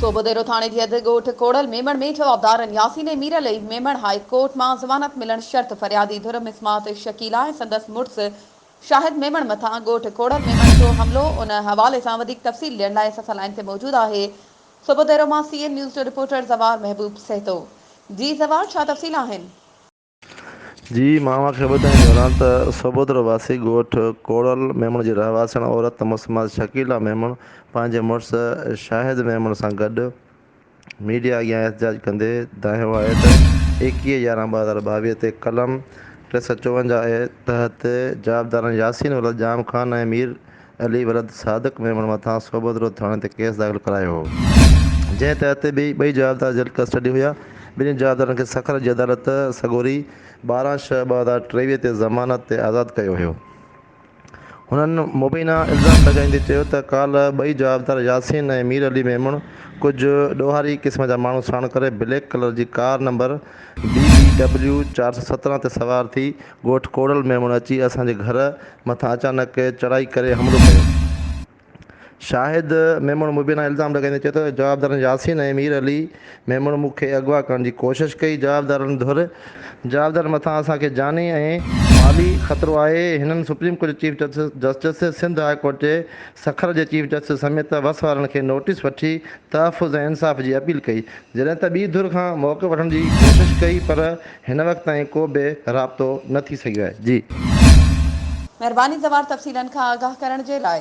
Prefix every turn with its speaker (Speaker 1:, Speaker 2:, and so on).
Speaker 1: صوبو ديرو ٿاڻي جي اڌ ڳوٺ ڪوڙل ميمڻ ۾ جوابدارن ياسين ۽ ميرعلي ميمڻ هاء ڪورٽ مان ضمانت ملڻ شرط فريادي ڌر مسمات شڪيلا ۽ سندس مڙس شاهد ميمڻ مٿان ڳوٺ ڪوڙل ميمڻ جو حملو ان حوالي سان وڌيڪ تفصيل ڏيڻ لاء اسان سان لائين تي موجود آهي صوبو ديرو مان سي اين نيوز جو رپورٽر زوار محبوب سهتو جي زوار ڇا تفصيل آهن.
Speaker 2: جي ماڻهن کي ٻڌائڻ گهران ته سوڀدرو واسي ڳوٺ ڪوڙل ميمڻ جي رهواسڻ عورت مسمات شڪيلا ميمڻ پنهنجي مڙس شاهد ميمڻ سان گڏ ميڊيا اڳيان احتجاج ڪندي دانهيو آهي ته ايڪيهه يارهن ٻه هزار ٻاويهه تي قلم ٽي سؤ چوونجاهه تحت جوابدارن ياسين ولد ڄام خان ۽ مير علي ولد صادق ميمڻ مٿان صحبت روڊ ٿاڻي تي ڪيس داخل ڪرايو هو، جنهن تحت به ٻئي جوابدار جيل ڪسٽڊي هيا، ٻنهي جوابدارن کي سکر جي عدالت سڳوري ٻارهن شهه ٻه هزار ٽيويهه تي ضمانت تي آزاد ڪيو هيو. هنن مبينا الزام لڳائيندي چيو ته ڪالهه ٻئي جوابدار ياسين ۽ مير علي ميمڻ ڪجهه ڏوهاري قسم جا ماڻهو ساڻ ڪري بليڪ ڪلر جي ڪار نمبر BBW چار سؤ سترهن تي سوار ٿي ڳوٺ ڪوڙل ميمڻ اچي اسان جي گهر مٿان اچانڪ چڙهائي ڪري حملو ڪيو. شاهد ميمڻ مبينا الزام لڳائيندي چيو ته جوابدارن ياسين ۽ مير علي ميمڻ مون کي اغوا ڪرڻ جي ڪوشش ڪئي، جوابدارن ڌر، جوابدارن مٿان اسان کي جاني ۽ مالي خطرو آهي، هنن سپريم ڪورٽ جي chief justice, Sindh high court جي سکر جي چيف جسٽس سميت وس وارن کي نوٽيس وٺي تحفظ ۽ انصاف جي اپيل ڪئي، جڏهن ته ٻي ڌر کان موقف وٺڻ جي ڪوشش ڪئي پر هن وقت تائين ڪو به رابطو نه ٿي
Speaker 1: سگهيو
Speaker 2: آهي
Speaker 1: جي. مهرباني
Speaker 2: زوار
Speaker 1: تفصيلن
Speaker 2: کان آگاهه
Speaker 1: ڪرڻ
Speaker 2: جي لاء.